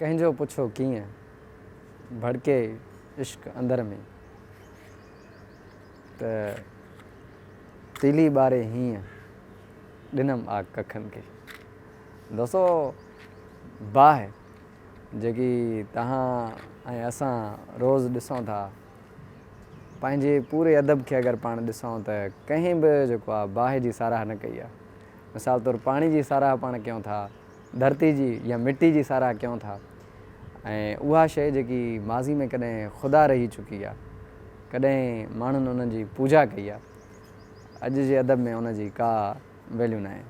ڪنهن جو پڇو ڪيئن ڀڙڪي عشق اندر ۾، ته تيلي ٻاري هيئن ڏنم آ ڪکن کي. دوستو باهه جيڪي توهان ۽ اسان روز ڏسون ٿا، پنهنجي پوري ادب کي اگر پاڻ ڏسون ته ڪنهن به جيڪو آ باهه جي ساراهه نه ڪئي آ. مثال طور پاڻي جي ساراهه پاڻ ڪيون ٿا، ڌرتي جي يا مٽي جي ساراهه ڪيون ٿا ۽ اها شيء جيڪي ماضي ۾ ڪڏهن خدا رهي چڪي آ، ڪڏهن ماڻهن ان جي پوڄا ڪئي آ، اڄ جي ادب ۾ ان جي ڪا ويليو ناهي،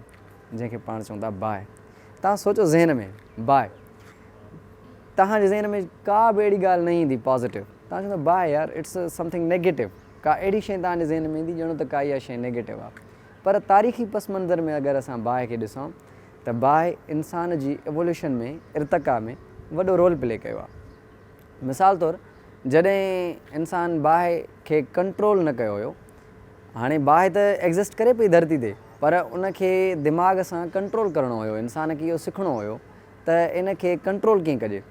جنهن کي پاڻ چون ٿا باهه. توهان سوچو ذهن ۾ باهه، توهان جي ذهن ۾ ڪا به اهڙي ڳالهه نه ايندي پازيٽو، توهان چوندا باهه يار اٽس سم ٿنگ نيگيٽو، ڪا اهڙي شيء توهان جي ذهن ۾ ايندي ڄڻو ته ڪا اها شيء نيگيٽو آ. پر تاريخي پس منظر ۾ اگر اسان باهه کي ڏسون ته باهه انسان جي ايووليوشن ۾ ارتقا ۾ وڏو رول پلي ڪيو آهي. مثال طور جڏهن انسان باهه کي ڪنٽرول نه ڪيو هيو، هاڻي باهه ته ايگزسٽ ڪري پئي ڌرتي تي پر ان کي دماغ سان ڪنٽرول ڪرڻو هيو، انسان کي اهو سکڻو هيو ته ان کي ڪنٽرول ڪيئن ڪجي.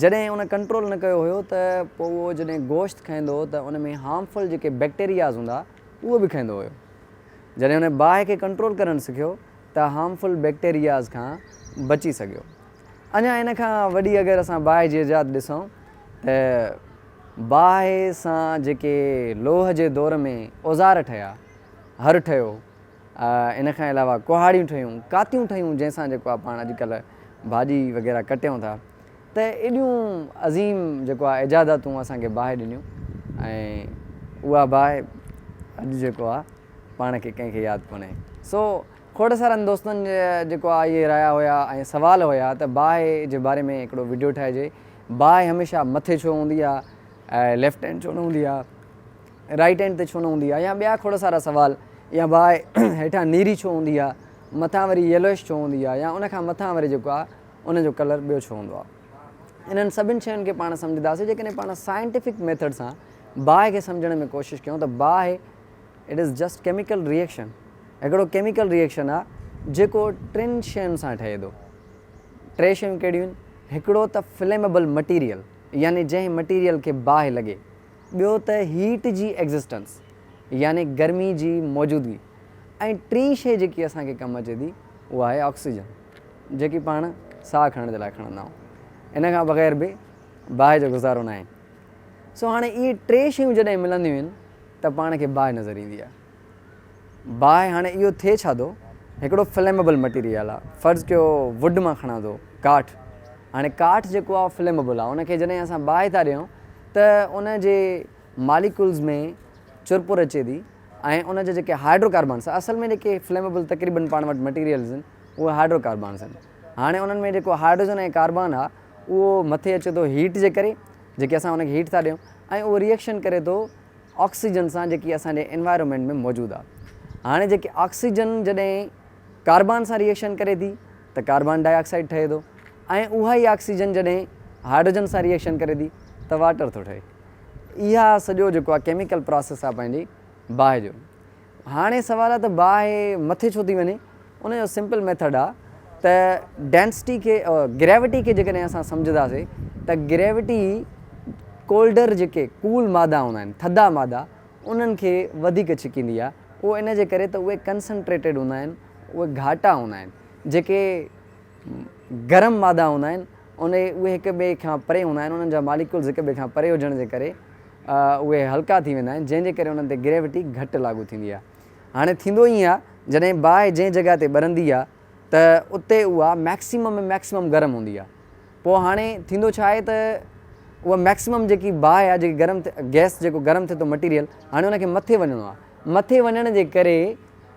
جڏهن ان ڪنٽرول نه ڪيو هيو ته پوء اهو جڏهن گوشت کائيندو هو ته ان ۾ هارمفل جيڪي بيڪٽيرياز هوندا اهي به کائيندو هيو. جڏهن ان باهه کي ڪنٽرول ڪرڻ سکيو ته هارمفل بيڪٽيرياز کان بچي سگهيو. اڃا ان کان وڏي اگر اسان باهه جي ايجاد ڏسون ته باهه سان جيڪي لوهه جي دور ۾ اوزار ٺهيا، هر ٺهيو، ان کان علاوه ڪهاڙيون ٺهيون، ڪاتيون ٺهيون جنهن سان جيڪو آ پاڻ اڄڪلهه ڀاڄي وغيره ڪٽيون ٿا. ته ايڏيون عظيم جيڪو آهي ايجاداتون اسان کي باهه ڏنيون ۽ اها باهه اڄ جيڪو آهي پاڻ کي ڪنهن کي ياد ڪونهي سو کوڙ سارن دوستن جا جيڪو آهي اهي رايا هيا ۽ سوال هيا ته باهه جي باري ۾ هڪڙو وڊيو ٺاهجي باهه هميشه مٿي ڇو هوندي آهي ۽ ليفٽ هينڊ ڇو نه هوندي آهي رائيٽ هينڊ تي ڇو نه هوندي آهي يا ٻيا کوڙ سارا سوال يا باهه هيٺان نيري ڇو هوندي آهي مٿان وري ييلوئش ڇو هوندي آهي يا ان کان مٿان وري جيڪو آهي ان جو ڪلر ٻيو ڇو هوندو آ؟ انهن سڀن شين کي پاڻ سمجهنداسين جيڪڏهن پاڻ سائنٽيفڪ ميٿڊ سان باهه کي سمجهڻ ۾ ڪوشش ڪيون ته باهه It is just chemical reaction هڪڙو ڪيميڪل ريئيڪشن آ جيڪو ٽن شين سان ٺهي ٿو ٽي شيون ڪهڙيون آهن هڪڙو ته فليمبل مٽيريل يعني جنهن مٽيريل کي باهه لڳي ٻيو ته هيٽ جي ايگزسٽنس يعني گرمي جي موجودگي ۽ ٽين شي جيڪي اسان کي ڪم اچي ٿي اها آهي آڪسيجن. جيڪي پاڻ ساهه کڻڻ جي لاء کڻندا آهيون، ان کان بغير به باهه جو گذارو ناهي. سو هاڻي اهي ٽي شيون جڏهن ملنديون آهن ته پاڻ کي باهه نظر ايندي آهي. باهه هاڻي اهو ٿئي ڇا ٿو، هڪڙو فليمبل مٽيريل آهي، فرض ڪيو ووڊ مان کڻان ٿو، ڪاٺ، هاڻي ڪاٺ جيڪو آهي فليمبل آهي، ان کي جڏهن اسان باهه ٿا ڏيون ته ان جي ماليڪولز ۾ چرپر اچي ٿي ۽ ان جا جيڪي هائڊرو ڪاربنز اصل ۾ جيڪي فليمبل تقريبن پاڻ وٽ مٽيريلز آهن، اهي هائڊرو ڪاربانز آهن. هاڻي انهن ۾ جيڪو هائڊروجن ۽ ڪاربان آهي اهو مٿي اچي ٿو هيٽ جي ڪري جيڪي اسان ان کي هيٽ ٿا ڏيون ۽ اهو ريئڪشن ڪري ٿو آڪسيجن سان جيڪي اسان جي انوائرمينٽ ۾ موجود آهي. هاڻي جيڪي آڪسيجن جڏهن ڪاربان سان ريئڪشن ڪري ٿي ته ڪاربان ڊاء آڪسائيڊ ٺهي ٿو ۽ اها ئي آڪسيجن جڏهن هائڊروجن سان ريئڪشن ڪري ٿي ته واٽر ٿو ٺهي. اها سڄو جيڪو آهي ڪيميڪل پراسيس آهي پنهنجي باهه جو هاڻي سوال آ ته باهه مٿي ڇو ٿي وڃي؟ ان جو سمپل ميٿڊ آ ته ڊينسٽي کي گريوٽي کي جيڪڏهن اسان سمجهداسي ته گريوٽي ڪولڊر جيڪي ڪول مادا هوندا آهن ٿڌا مادا انهن کي وڌيڪ ڇڪيندي آ اهو ان جي ڪري ته اهي ڪنسنٽريٽيڊ هوندا آهن اهي گهاٽا هوندا آهن جيڪي گرم مادا هوندا آهن انهي اهي هڪ ٻئي کان پري هوندا آهن انهن جا ماليڪولز هڪ ٻئي کان پري هجڻ جي ڪري اهي هلڪا ٿي ويندا آهن، جنهن جي ڪري انهن تي گريوٽي گهٽ لاڳو ٿيندي آهي. هاڻي ٿيندو ائين آهي جڏهن باهه جنهن جڳهه تي ٻرندي آهي ته اتي اها ميڪسيمم ۾ ميڪسيمم گرم هوندي آهي. پوء هاڻي ٿيندو ڇا آهي ته اها ميڪسيمم جيڪي باهه آهي جيڪي گرم گئس جيڪو گرم ٿئي ٿو مٽيريل هاڻي ان کي مٿي وڃڻو آهي مٿي وڃڻ جي ڪري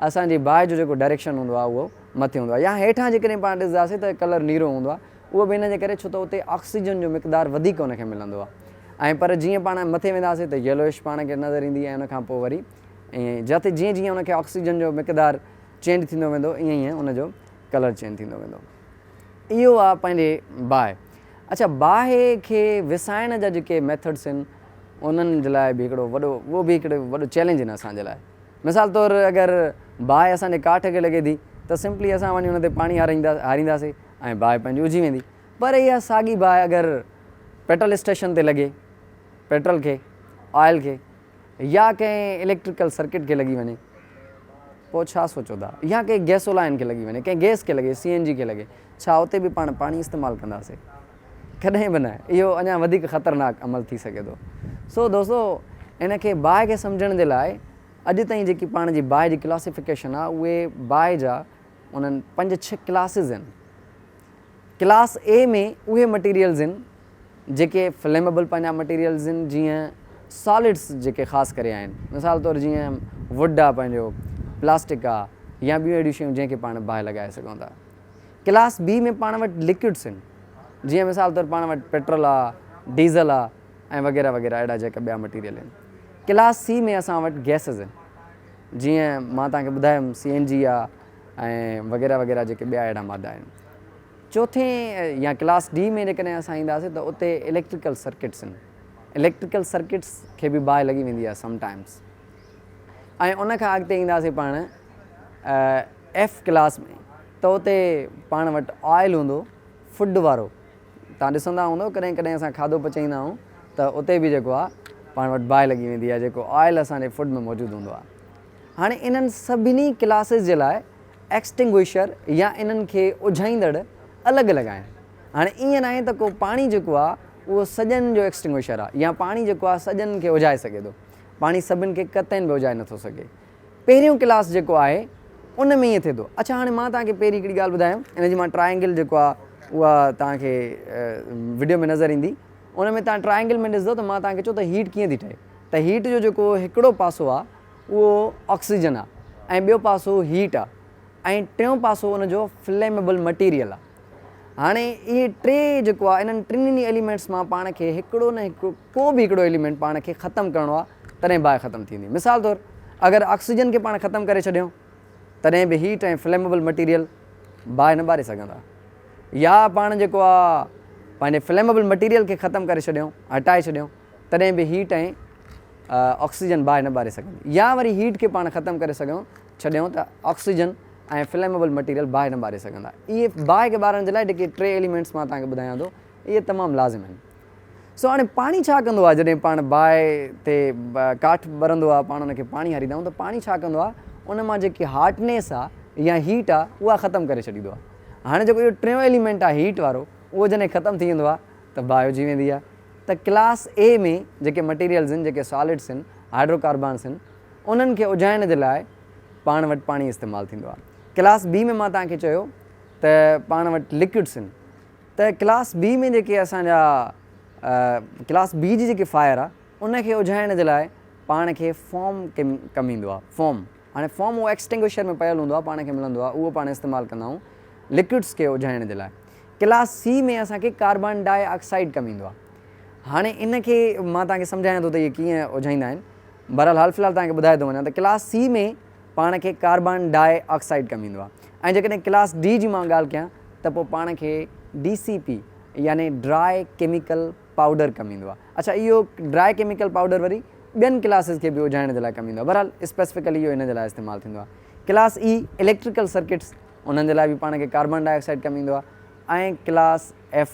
اسان جي باهه جو جيڪو ڊائريڪشن هوندو آهي اهو مٿي هوندو آهي يا هيٺان جيڪڏهن پاڻ ڏسنداسين ته ڪلر نيرو هوندو آهي. اهو به ان جي ڪري ڇو ته اتي آڪسيجن جو مقدار وڌيڪ ان کي ملندو آهي ۽ پر جيئن پاڻ مٿي وينداسين ته يلوئش پاڻ کي نظر ايندي ۽ ان کان پوء وري ائين ئي جتي جيئن جيئن ان کي آڪسيجن جو مقدار چينج ٿيندو ويندو ائين ائين ان جو ڪلر چينج ٿيندو ويندو. اهو آهي پنهنجي باهه. اڇا باهه کي وسائڻ جا جيڪي ميٿڊس آهن انهن جي لاء به هڪڙو وڏو اهو به هڪڙو وڏو چئلينج آهن اسان جي لاء مثال طور اگر باهه اسان جي ڪاٺ کي لڳي ٿي ته سمپلي اسان وڃي ان تي پاڻي هاريندا هارينداسين ۽ باهه پنهنجي اجهي ويندي. پر اها ساڳي باهه اگر پيٽرل اسٽيشن تي لڳي، پيٽرل کي، آئل کي يا ڪنهن اليڪٽريڪل سرڪٽ کي لڳي وڃي پوء ڇا سوچو ٿا؟ يا ڪنهن گيسولائن کي لڳي وڃي، ڪنهن گئس کي لڳي، سي اين جي کي لڳي، ڇا اتي به پاڻ پاڻي استعمال ڪنداسين؟ ڪڏهن به نه. اهو اڃا وڌيڪ خطرناڪ عمل ٿي سگهي ٿو. سو دوستو ان کي باهه کي سمجهڻ جي لاء اڄ تائين جيڪي پاڻ جي باهه جي ڪلاسيفڪيشن آهي اهي باهه جا انهن پنج ڇهه ڪلاسز آهن. ڪلاس اي ۾ اهي مٽيريلز آهن جيڪي فليمبل پنهنجا مٽيريلز آهن جيئن سالڊس جيڪي خاص ڪري آهن مثال طور جيئن وڊ آهي پنهنجو پلاسٽڪ آهي يا ٻيون اهڙيون شيون جنهن کي پاڻ باهه لڳائي سگهون ٿا. ڪلاس بي ۾ پاڻ وٽ لڪوڊس آهن جيئن مثال طور پاڻ وٽ پيٽرول آهي ڊيزل آهي ۽ وغيره وغيره اهڙا جيڪا ٻيا مٽيريل آهن. ڪلاس سي ۾ اسان وٽ گيسز آهن. جيئن مان توهان کي ٻڌايم سي اين جي آ ۽ وغيره وغيره جيڪي ٻيا اهڙا مادا آهن. چوٿين يا ڪلاس ڊي ۾ جيڪڏهن اسان اينداسين ته اتي اليڪٽريڪل سرڪٽس ان اليڪٽريڪل سرڪٽس کي به باهه لڳي ويندي آهي سم ٽائمز ۽ ان کان اڳتي اينداسين پاڻ ايف ڪلاس ۾ ته اتي پاڻ وٽ آئل هوندو فوڊ وارو توهان ڏسندا هوندؤ ڪڏهن ڪڏهن اسان کاڌو پچائيندا آهيون ته اتي به جيڪو آهي پاڻ وٽ باهه لڳي ويندي آهي جيڪو آئل اسان جي فوڊ ۾ موجود هوندو آهي. هاڻي انهن سڀني ڪلاسز جي لاء ايڪسٽنگوئشر يا انهن کي اجهائيندڙ الڳ الڳ آهن. هاڻي ائين ناهي ته ڪو پاڻي جيڪو آهي اهو سڄن جو ايڪسٽنگوئشر آهي يا پاڻي جيڪو آهي سڄن کي اجهائي سگهي ٿو. پاڻي سڀن کي قطعين به اجهائي نٿو سگهي. پهريون ڪلاس جيڪو آهي ان ۾ ائين ٿئي ٿو. اڇا هاڻي مان توهان کي پهرين هڪڙي ڳالهه ٻڌايم ان جي مان ٽرائينگل جيڪو آهي اها توهان کي وڊيو ۾ نظر ايندي ان ۾ توهان ٽرائينگل ۾ ڏسندو ته مان توهان کي چئو ته هيٽ ڪيئن ٿي ٺهي ته هيٽ جو جيڪو هڪڙو پاسو آهي اهو آڪسيجن آهي ۽ ٻيو پاسو هيٽ آهي ۽ ٽيون پاسو ان جو فليمبل مٽيريل آهي. هاڻي اهي ٽي جيڪو آهي انهن ٽنهي ايليمينٽس مان پاڻ کي هڪڙو نه هڪڙو ڪو به هڪڙو ايليمينٽ پاڻ کي ختم ڪرڻو آهي تڏهن باهه ختم ٿيندي مثال طور اگر آڪسيجن کي پاڻ ختم ڪري ڇڏيون تڏهن به هيٽ ۽ فليمبل مٽيريل باهه نه ٻاري سگهندا يا پاڻ جيڪو آهي پنهنجي فليمبل مٽيريل کي ختم ڪري ڇڏيون هٽائي ڇڏيون تڏهن به هيٽ ۽ آڪسيجن باهه نه ٻاري سگهندي يا وري هيٽ کي پاڻ ختم ڪري سگهون ڇڏيون ته آڪسيجن ۽ فليمبل مٽيريل باهه نه ٻاري سگهندا. اهي باهه کي ٻارڻ جي لاء جيڪي ٽي ايليمينٽس مان توهان کي ٻڌايان ٿو اهي تمام لازم آهن. سو هاڻي پاڻي ڇا ڪندو آهي جڏهن پاڻ باهه تي ڪاٺ ٻرندو آهي پاڻ ان کي پاڻي هاريندا آهيون ته پاڻي ڇا ڪندو آهي ان مان جيڪي هاٽنيس آهي يا هيٽ آهي اها ختم ڪري ڇڏيندو آهي. هاڻي جيڪو اهو ٽيون ايليمينٽ آهي هيٽ وارو اهو جڏهن ختم ٿي ويندو آهي ته باهه اجهي ويندي آهي. ته ڪلاس اي ۾ جيڪي مٽيريلز آهن جيڪي سالڊس آهن هائڊروڪاربانس آهن انهن کي اجهائڻ جي لاء پاڻ وٽ پاڻي استعمال ٿيندو آهي ڪلاس بي ۾ مان توهان کي چيو ته پاڻ وٽ لڪوڊس آهن ته ڪلاس بي ۾ جيڪي اسان جا ڪلاس بي جي جيڪي فائر آهي ان کي اجهائڻ جي لاء پاڻ کي فوم ڪم ايندو آهي فوم هاڻي فوم اهو ايڪسٽنگوشر ۾ پيل هوندو آهي پاڻ کي ملندو آهي اهو پاڻ استعمال ڪندا آهيون لڪوڊس کي اجهائڻ جي لاء ڪلاس سي ۾ اسان کي ڪاربان ڊاء آڪسائيڊ ڪم ايندو آهي هاڻي ان کي مان توهان کي سمجهايان ٿو ته اهي ڪيئن اجهائيندا آهن. بهرحال حال في الحال توهان کي ٻڌائي ٿو وڃان ته ڪلاس سي ۾ پاڻ کي ڪاربان ڊاء آڪسائيڊ ڪم ايندو آهي ۽ جيڪڏهن ڪلاس ڊي جي مان ڳالهه ڪيان ته پوء پاڻ کي ڊي سي پي يعني ڊراء ڪيميڪل پائوڊر ڪم ايندو آهي. اڇا اهو ڊراء ڪيميڪل پائوڊر وري ٻين ڪلاسز کي به اجهائڻ جي لاء ڪم ايندو آهي. بهرحال اسپيسفڪلي اهو ان جي لاء استعمال ٿيندو آهي. ڪلاس اي اليڪٽريڪل سرڪٽس انهن جي لاء به پاڻ کي ڪاربان ڊاء آڪسائيڊ ڪم ايندو آهي ۽ ڪلاس ايف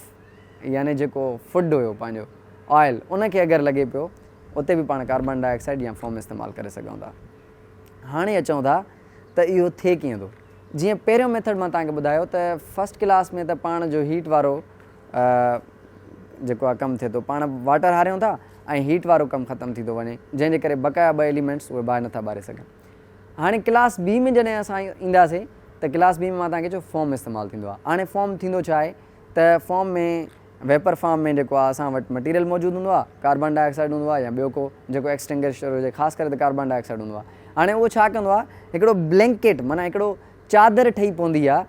يعني جيڪو فوڊ هيو پنهنجو آئل ان کي اگر لڳي پيو اتي به پاڻ ڪاربان ڊاء آڪسائيڊ يا فوم استعمال ڪري سگهون ٿا. هاڻي اچون ٿا ته اهو ٿئي ڪيئن ٿو. جيئن پهريون ميٿڊ مان توهان کي ٻڌايو ته فرسٽ ڪلاس ۾ ته پاڻ جو هيٽ وارو جيڪو آهي ڪم ٿئي ٿو پاڻ واٽر هاريون ٿا ۽ هيٽ وارو ڪم ختم ٿي ٿو وڃي جنهن جي ڪري بقايا ٻه ايليمينٽس اهي باهه نٿا ٻاري سگهن. هاڻي ڪلاس بي ۾ جڏهن اسان اينداسين ته ڪلاس بي ۾ مان توهان کي چيو فوم استعمال ٿيندو آهي هاڻي فوم ٿيندو ڇا آهي؟ ته فارم ۾ ويپر فارم ۾ جيڪو آ اسان وٽ مٽيريل موجود هوندو آ ڪاربان ڊاء آڪسائيڊ هوندو آ يا ٻيو ڪو جيڪو ايڪسٽنگشر هجي خاص ڪري ته ڪاربان ڊاء آڪسائيڊ هوندو آ هاڻي اهو ڇا ڪندو آ هڪڙو بلينڪيٽ معنيٰ هڪڙو چادر ٺهي پوندي آ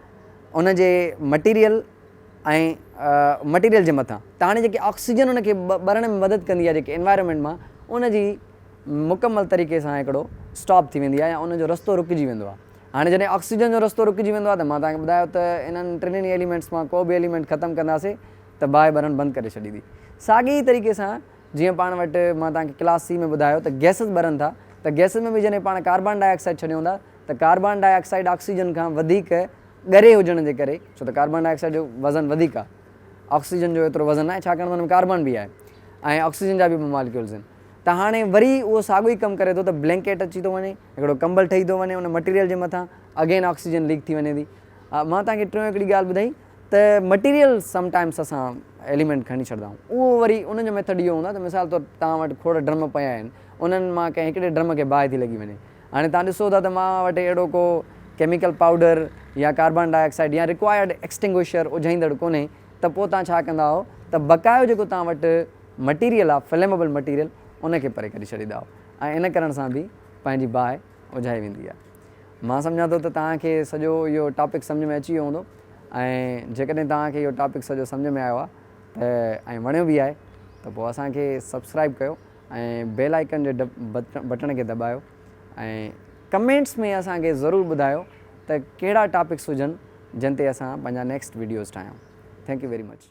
ان جي مٽيريل ۽ مٽيريل جي مٿان ته هاڻي جيڪي آڪسيجن ان کي ٻرڻ ۾ مدد ڪندي آ جيڪي انوائرمينٽ مان ان جي مڪمل طريقي سان هڪڙو اسٽاپ ٿي ويندي آ يا ان جو رستو رڪجي ويندو آ هاڻي جڏهن آڪسيجن جو رستو رڪجي ويندو آهي ته مان توهان کي ٻڌايو ته انهن ٽنهي ئي ايليمينٽس مان ڪو به ايليمينٽ ختم ڪنداسين ته باهه ٻرڻ بند ڪري ڇڏيندي. ساڳي ئي طريقي سان جيئن پاڻ وٽ مان توهان کي ڪلاس سي ۾ ٻڌايو ته گئسز ٻرن ٿا ته گئسز ۾ به جڏهن پاڻ ڪاربان ڊاء آڪسائيڊ ڇڏيون ٿا ته ڪاربان ڊاء آڪسائيڊ آڪسيجن کان وڌيڪ ڳري هجڻ جي ڪري ڇو ته ڪاربان ڊاء آڪسائيڊ جو وزن وڌيڪ آهي آڪسيجن جو ايترو وزن ناهي ڇاڪاڻ ته ان ۾ ڪاربان به آهي ۽ آڪسيجن جا به ٻه ماليڪيولز آهن ته هاڻي وري اهو ساڳيو ئي ڪم ڪري ٿو ته بلينڪيٽ اچي ٿو وڃي، هڪڙو ڪمبل ٺهي ٿو وڃي، ان مٽيريل جي مٿان اگين آڪسيجن ليڪ ٿي وڃي ٿي. مان توهان کي ٽيون هڪڙي ڳالهه ٻڌائي ته مٽيريل سم ٽائمس اسان ايليمينٽ کڻي ڇڏدا آهيون اهو وري ان جو ميٿڊ اهو هوندا ته مثال طور توهان وٽ کوڙ ڊرم پيا آهن انهن مان ڪنهن هڪڙي ڊرم کي باهه ٿي لڳي وڃي هاڻي توهان ڏسو ٿا ته مان وٽ اهڙو ڪو ڪيميڪل پائوڊر يا ڪاربان ڊاء آڪسائيڊ يا ريڪوائرڊ ايڪسٽنگوشر اجهائيندڙ ڪونهي ته پوء توهان ڇا ڪندا ته بقايو جيڪو توهان وٽ مٽيريل آف فليمبل مٽيريل ان کي پري ڪري ڇڏيندا ۽ ان ڪرڻ سان به پنهنجي باهه اجهائي ويندي آهي مان سمجهان ٿو ته توهان کي سڄو اهو ٽاپڪ سمجهه ۾ اچي ويو هوندو ۽ جيڪڏهن توهان کي اهو ٽاپڪ سڄو سمجهه ۾ آيو آهي ته ۽ وڻيو به آهي ته پوء اسان کي سبسڪرائب ڪيو ۽ بيل آئيڪن جي بٽڻ کي دٻايو ۽ ڪمينٽس ۾ اسان کي ضرور ٻڌايو ته ڪهڙا ٽاپڪس هجن جن تي اسان پنهنجا نيڪسٽ ويڊيوز ٺاهيون ٿينڪ يو ويري مچ.